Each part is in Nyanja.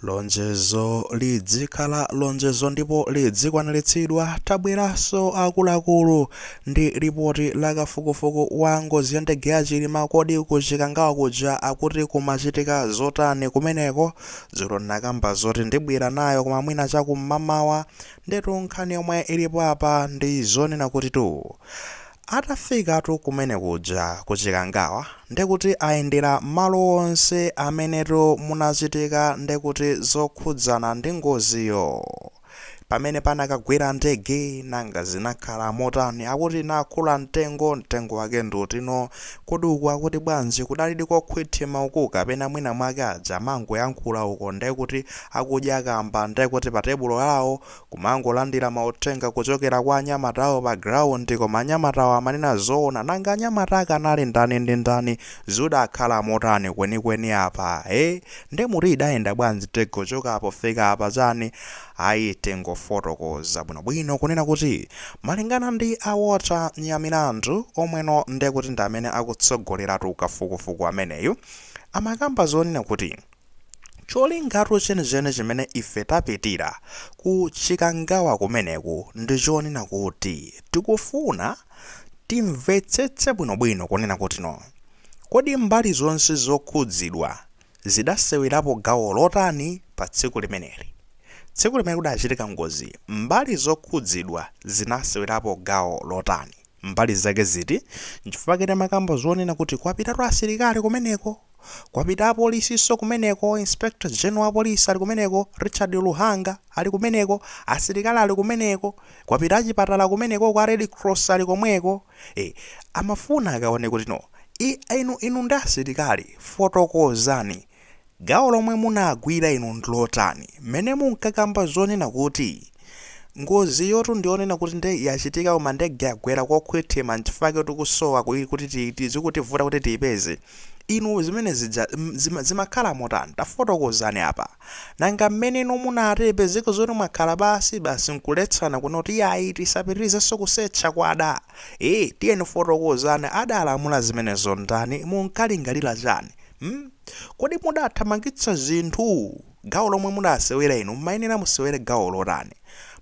Lonjezo lidzikhala lonjezo ndipo lidzikwaniritsidwa. Tabweranso akuluakulu ndi lipoti la kafukufuku wa ngozi ya ndege ya Chilima kodi ku Chikangawa kuja akuti kumachitika zotani kumeneko? Dzulo ndinakamba zoti ndibwera nayo koma mwina chakummamawa. Ndetu nkhani yomwe ilipo apa ndi zonena kutitu Atafikatu kumene kuja ku Chikangawa ndekuti ayendera mmalo onse amenetu munachitika ndekuti zokhudzana ndi ngoziyo. Pamene panakagwera ndege nanga zinakhala motani akuti inakhula mtengo, mtengo wake ndi uti no, kodi uku akuti bwanji kudalidi kokhwithima uku kapena mwina mwake aja amangoyankhula uko ndekuti akudya kamba ndekuti pa tebulo lawo kumangolandira mauthenga kuchokera kwa anyamatawo pa ground koma anyamatawo amanena zoona nanga anyamata ake anali ndani ndi ndani zidakhala motani kwenikweni apa e nde muti idayenda bwanji nde kuchoka apo kufika apa chani ayi tingofotokoza bwinobwino kunena kuti malingana ndi a Walter Nyamilandu omweno ndekuti ndi amene akutsogoleratu kafukufuku ameneyu amakamba zonena kuti Cholingatu chenicheni chimene ife tapitira ku Chikangawa kumeneku ndi chonena kuti tikufuna timvetsetse bwinobwino kunena kuti no. Kodi mbali zonse zokhudzidwa zidasewerapo gawo lotani pa tsiku limeneli? Tsiku limene kudachitika ngozi mbali zokhudzidwa zinasewerapo gawo lotani? Mbali zake ziti? Nchifukwa ake timakamba zonena kuti kwapitatu asilikali kumeneko? Kwapita apolisinso kumeneko, Inspector General wa Police ali kumeneko, Richard Luhanga ali kumeneko, asilikali ali kumeneko, kwapita achipatala kumenekoko, a Red Cross ali komweko. E, amafuna akaone kuti no. I, inu, inu ndi asilikali, fotokozani. Gawo lomwe munagwira inu ndi lotani? Mmene munkakamba zonena kuti ngoziyotu ndi yonena kuti nde yachitika koma ndege yagwera kokhwithima nchifukwa chake tikusowa ku, kuti ti, ti, zikutivuta kuti tiipeze. Inu zimene zija mm, zima, zimakhala motani? Tafotokozani apa. Nanga mmene inu munati ipezeke zoti mwakhala pansi basi nkuletsana kunena kuti yayi tisapitirizenso kusetcha kwada? Eh, tiyeni fotokozani adalamula zimenezo ndani? Munkalingalira chani? Hmm? Kodi mudathamangitsa zinthu? Gawo lomwe mudasewera inu mmayenera musewere gawo lotani?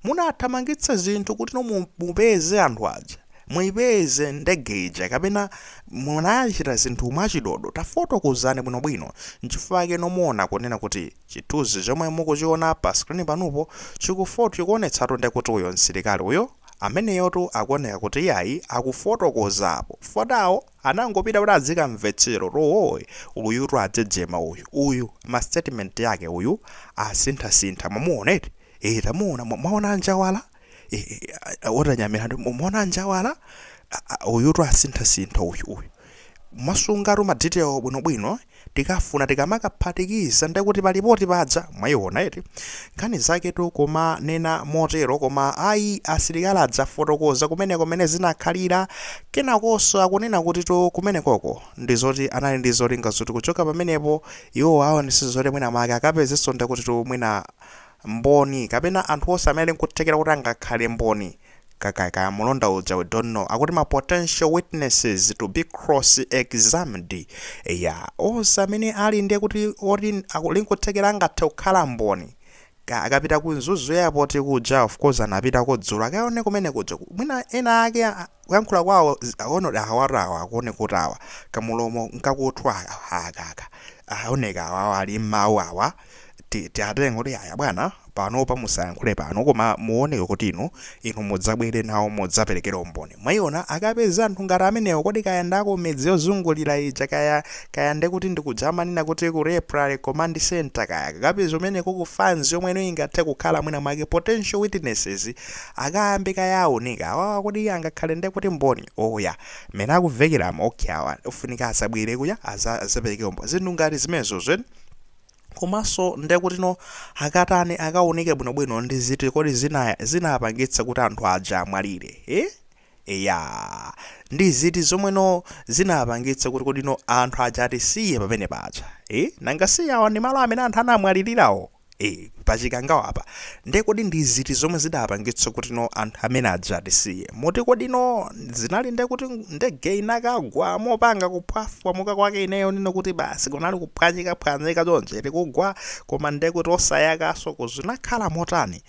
Munathamangitsa zinthu kuti inu mu- mupeze anthu aja? muipeze ndege ija kapena munachita zinthu mwachidodo tafotokozani bwinobwino nchifukwa chake mukuona kunena kuti chithunzi chomwe mukuchiona pa screen panupo chikufot chikuonetsatu nde kuti uyo msilikali uyo ameneyotu akuoneka kuti iyayi akufotokoza apo Fotao anangopita kuti azikamvetsera to oo uyutu adzejema uyu uyu ma statement ake uyu asinthasintha mamuona eti ee tamuona mwa- mwaona njawala otanyamira mwaona njawala uyutu asinthasintha uyu uyu masungatu ma detail bwinobwino tikafuna tikamakaphatikiza ndekuti palipoti padza mwayiona eti nkhani zaketu koma nena motero koma ayi asilikali adzafotokoza kumene kumene zinakhalira kenakonso akunena kuti tu kumenekoko ndi zoti anali ndi zolinga zoti kuchoka pamenepo iwo aonese zoti mwina make akapezenso ndekutitu mwina Mboni, kapena anthu onse amene ali nkuthekera kuti angakhale mboni, ka, ka, kaya mulonda uja, we don't know, akuti ma potential witnesses to be cross examined, eya, onse amene ali ndekuti oti akuli nkuthekera angathe kukhala mboni, ka, akapita ku Mzuzu airport kuja, of course anapitako dzulo, akaone kumene kuja, mwina ena ake a, kuyankhula kwawo zi, aone kodi awatu awa akuoneka kuti awa, kamulomo nkakuthwa aka, aka, aka, aoneka awa, awa ali mmawu awa, ti- tiatenga kuti aya bwana panopa musayankhule pano koma muoneke kuti inu inu mudzabwere nawo mudzaperekere umboni mwayiona akapeza anthu ngati amenewo kodi kaya nda ku midzi yozungulira ija kaya kaya ndekuti ndikudzamanena kuti ku temporary command center kaya akapeza kumeneko ku fans yomwe ino ingathe kukhala mwina mwake potential witnesses akayambe kaye aunika awawa kuti iye angakhale ndekuti mboni oya mene akumvekeramu okay awa afunika azabwere kuja aza- azapereke umboni zinthu ngati zimenezo zweni komanso ndekutino akatani akaunike bwinobwino ndi ziti kodi zina zinapangitsa kuti anthu aja amwalire eh? eya ndi ziti zomweno zinapangitsa kuti kodino anthu aja atisiye pamene paja eh? nanga si awa ndi malo amene anthu anamwalirirawo eh. pa chikangawapa nde kodi ndi ziti zomwe zidapangitsa kutino anthu amene aja atisiye moti kodino zinali nde kuti ndege inakagwa mopanga kuphwafwamuka kwake ineyo nino kuti basi kunali kuphwanyikaphwanyika chonchi kugwa koma nde kuti osayakaso kodi zinakhala motani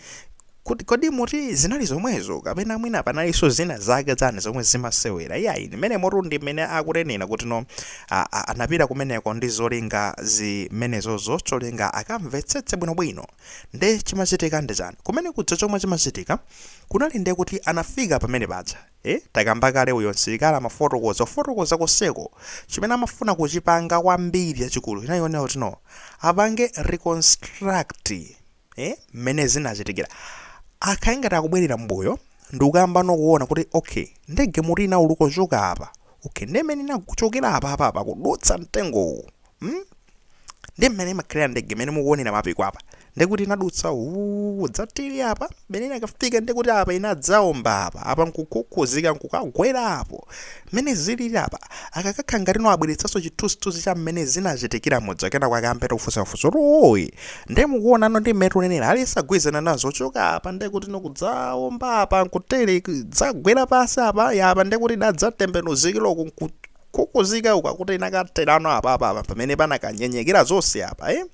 Kodi, kodi moti zinali zomwezo, kapena mwina panalinso zina zake zani zomwe zimasewera? Iyayi, mmenemotu ndi mmene akutenera kutino a, a, anapita kumeneko ndi zolinga zimenezozo cholinga akamvetsetse bwinobwino. Nde chimachitika ndi chani? Kumene kuja chomwe chimachitika, kunali nde kuti anafika pamene paja, e, takamba kale uyo msilikali amafotokoza, kufotokoza konseko, chimene amafuna kuchipanga kwambiri chachikulu chinali chonena kutino apange reconstruct, eh, mmene zinachitikira akhale ngati akubwerera mbuyo ndikukayambano kuona kuti okay ndege muti inauluka kuchoka apa okay ndi mmene inakuchokera apa apa apa kudutsa mtengowu mm? ndi mmene imakhalira ndege mmene mukuonera mapiko apa ndikuti inadutsa uu dzatili apa mmene inakafika ndikuti apa inadzaomba apa apa nkukhukhuzika nkukagwera apo Mmene zilili apa, akakakhala ngati no abweretsanso chithunzithunzi cha mmene zinachitikira muja kenako akayambe no kufunsafunsa kuti ooyi nde mukuona no ndi mmene tunenera aliyense agwirizana nazo kuchoka apa nde kuti no kudzaomba apa nkutere idzagwera pansi apa ya apa nde kuti idadzatembenuzikira uku nkukhukhuzika uku akuti inakatherano apapa apa pamene panakanyenyekera zonse apa eh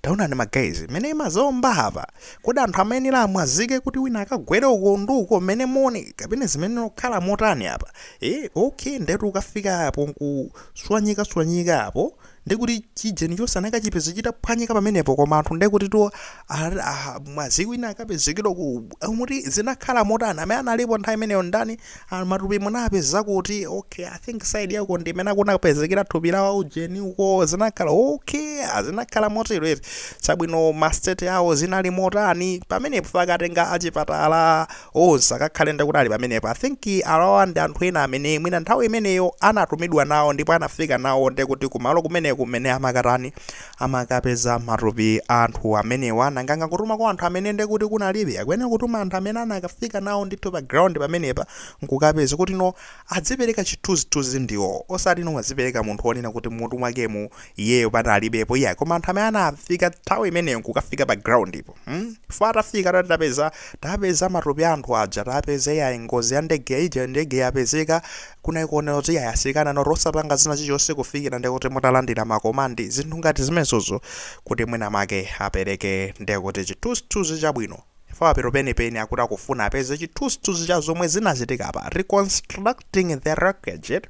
taonani ma guys mmene imadzaomba apa Kodi anthu amayenera amwazike kuti wina akagwere uko ndi uko mmene moni kapena zimayenera kukhala motani apa? Eh, okay, ndetu ukafika apo nkuswanyikaswanyika apo ndi kuti chijeni chonse anakachipeza chitaphwanyika pamenepo koma anthu nde kuti tu ah, mwazika wina akapezekera uku muti zinakhala motani amene analipo nthawi imeneyo ndani Ah, matupi munapeza kuti okay i think side yako ndi imene kunapezekera thupi la waujeni uko zinakhala okay ah, zinakhala motero eti chabwino mastate awo inali motani pamenepo pakatenga achipatala onse akakhale ndakuti ali pamenepo i think awawa ndi anthu ena amene mwina nthawi imeneyo anatumidwa nawo ndipo anafika nawo ndekuti kumalo kumene kumene amakatani amakapeza matupi a anthu amenewa nanga angakatuma kwa anthu amene nde kuti kunalibe akuyenera kutuma anthu amene anakafika nawo ndithu pa ground pamenepa nkukapeza kuti no adzipereka chithunzithunzi ndiwo osati no adzipereka munthu wonena kuti mutu mwakemu iyeyo panalibepo iyayi koma anthu amene anafika nthawi imeneyo nkukafika pa groundipo hmm? fo atafika tati tapeza tapeza matupi a anthu aja tapeza iyayi ngozi ya ndege ija ndege yapezeka Kunali kuyenera kuti yayi asilikali anoti osapanga china chilichonse kufikira ndekuti mutalandira ma command zinthu ngati zimenezozo kuti mwina make apereke ndekuti chithunzithunzi chabwino chifukwa apatu penipeni nkuti akufuna apeze chithunzithunzi cha zomwe zinachitika apa reconstructing the wreckage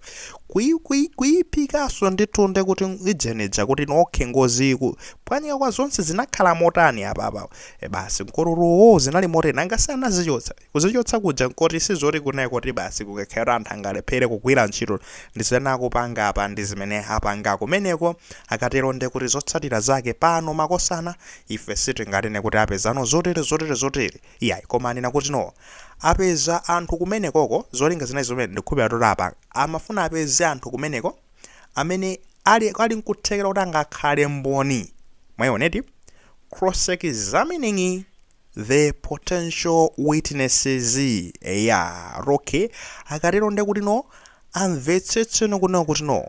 kuyi kuyi kuyiphikanso ndithu ndekuti ijenija kuti no okay ngoziku kuphwanyika kwa zonse zinakhala motani apa apa e basi ma screw-wo zinali motani angasi anazichotsa Kuzichotsa kuja nkoti sizoti kunali koti basi kungakhale kuti anthu angalephere kugwira ntchito ndi zimene akupanga apa ndi zimene apanga kumeneko akatero nde kuti zotsatira zake pano makosana ife sitinganene kuti apezano zotere zotere zotere iyayi koma anena kuti no apeza anthu kumenekoko zolinga zinali zomwe ndikukhulupirira kuti apa amafuna apeze anthu kumeneko amene ali ali nkuthekera kuti angakhale mboni mwaona eti cross examining The potential witnesses eya okay akatero nde kuti no amvetsetse no kunena kuti no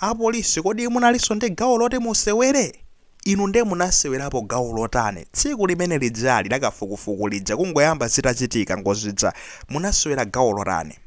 apolisi kodi munalinso ndi gawo loti musewere inu nde munasewerapo gawo lotani tsiku limene lijali lakafukufuku lija kungoyamba zitachitika ngozija munasewera gawo lotani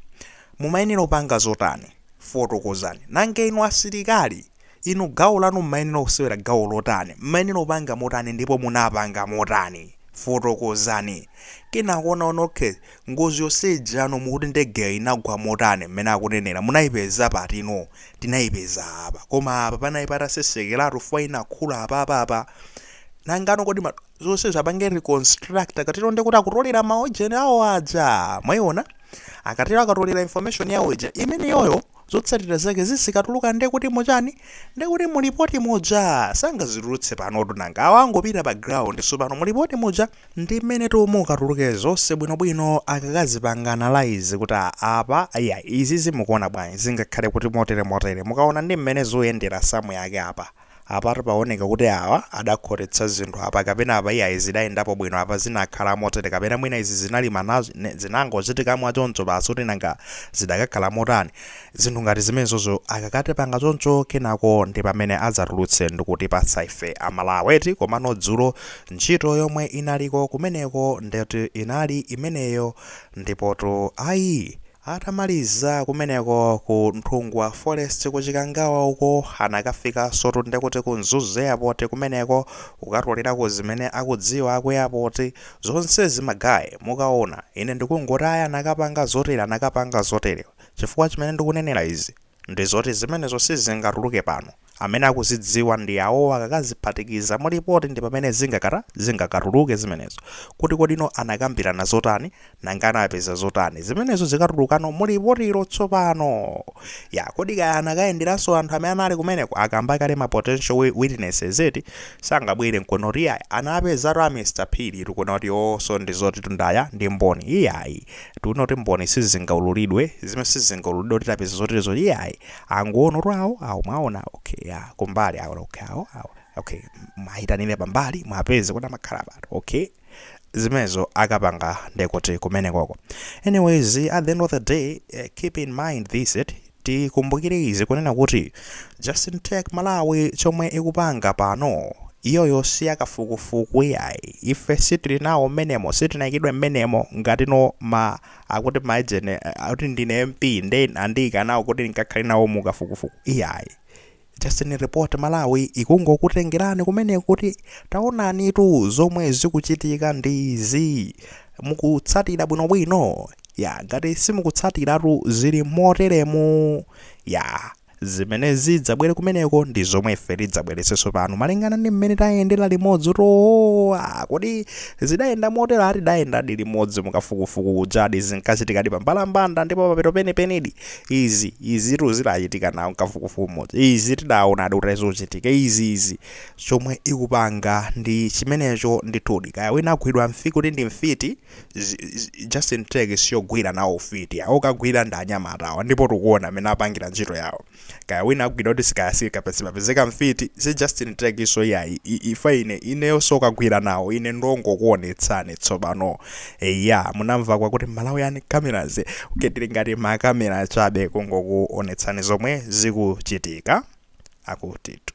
mumayenera upanga zotani fotokozani nanga inu asilikali Inu gawo lanu mmayenera kusewera gawo lotani? Mmayenera kupanga motani ndipo munapanga motani? Fotokozani. Kenako onaona okay, ngozi yonse ijano mukuti ndegeyo inagwa motani mmene akunenera, munayipeza pati no? Tinayipeza apa. Koma apa panali patasesekeratu fukwa inakhula apapa apa. Nangano kodi ma, zonsezo apange reconstruct akatero ndekuti akutolera maujeni awo aja. Mwayiona? Akatero akatolera information yawo ija imeneyoyo zotsatira zake zizikatuluka nde kuti mu chani? nde kuti mu lipoti muja sangazitulutse panotu nanga awa angopita pa ground sopano mu lipoti muja ndi mmenetu mukatuluke zonse bwinobwino akakazipanga analyse kuti a apa iya izizi mukuona bwanji zingakhale kuti motere motere mukaona ndi mmene zuyendera samu yake apa Apatu paoneka kuti awa adakhotetsa zinthu apa kapena apa iyayi zidayendapo bwino apa zinakhala motere kapena mwina izi zinali ma zinangochitika mwachoncho basi kuti nanga zidakakhala motani zinthu ngati zimenezozo akakatipanga choncho kenako ndipamene adzatulutse ndikutipatsa ife a Malawi eti komano dzulo ntchito yomwe inaliko kumeneko ndekuti inali imeneyo ndipotu ayi Atamaliza kumeneko ku Nthungwa Forest ku Chikangawa uko anakafikansotu ndekuti ku Mzuzu Airport kumeneko kukatolerako zimene akudziwa aku airport zonsezi ma guy mukaona ine ndikungoti ayi anakapanga zotere anakapanga zotere chifukwa chimene ndikunenera izi Ndi zoti zimenezo sizingatuluke pano. Amene akuzidziwa ndi awowo akakaziphatikiza mu lipoti ndi pamene zingakata, zingakatuluke zimenezo. Kuti kodino anakambirana zotani, nanga anapeza zotani. Zimenezo zikatulukano mu lipotilo tsopano. Ya, kodi kaya anakayenderanso anthu amene anali kumeneko, akamba kale ma potential wi, witnesses eti, sangabwere n'kunena kuti iyayi, anapezatu a Mr. Phiri tu kunena kuti iwowonso ndi zotitu ndi aya, ndi mboni. Iyayi. Tikunena kuti mboni sizingaululidwe, zimene sizingaululidwe kuti tapeza zoterezo iyayi. Angoona kuti awo, awo mwaona, okay, ya, kumbali awo, okay, awo, awo, okay, mwayitanire pambali, mwapeze kuti amakhala pati, okay. Zimenezo akapanga ndekuti kumenekoko. Anyways, at the end of the day, eh, keep in mind this, eti, Tikumbukire izi kunena kuti Justin Tech Malawi chomwe ikupanga pano iyoyo siyakafukufuku iyayi ife sitili nawo mmenemo sitinaikidwe mmenemo ngatino ma akuti maujeni akuti ndine MP nde andiika nawo kuti ndikakhale nawo mukafukufuku iyayi Justin Report Malawi ikungokutengerani kumeneko kuti taonanitu zomwe zikuchitika ndi izi mukutsatira bwinobwino ya ngati simukutsatiratu zili moteremu ya zimene zidzabwere kumeneko ndi zomwe ife tidzabweretsenso pano malingana ndi mmene tayendera limodzi toona kodi zidayenda motero ati tidayendadi limodzi mukafukufuku ujadi zinkachitikadi pambalambanda ndipo papero penepenedi izi izitu zidachitika nawo mkafukufuku umodzi izi tidaonadi kuti zikuchitika izi izi chomwe ikupanga ndi chimenecho ndithudi kaya wina agwidwa mfiti kuti ndi mfiti si- si- Justin Tech siyogwira nawo ufiti okagwira ndi anyamatawa ndipo tikuona mmene apangira ntchito yawo kaya wina agwidwa kuti si kaya si akapezeka pezeka mfiti si Justin Tech so iyayi I- ifa ine ineyo sokagwira nawo ine ndongokuonetsani tsopano eya munamva kwakuti malawian cameras kuti tili ngati makamera chabe kungokuonetsani zomwe zikuchitika akutitu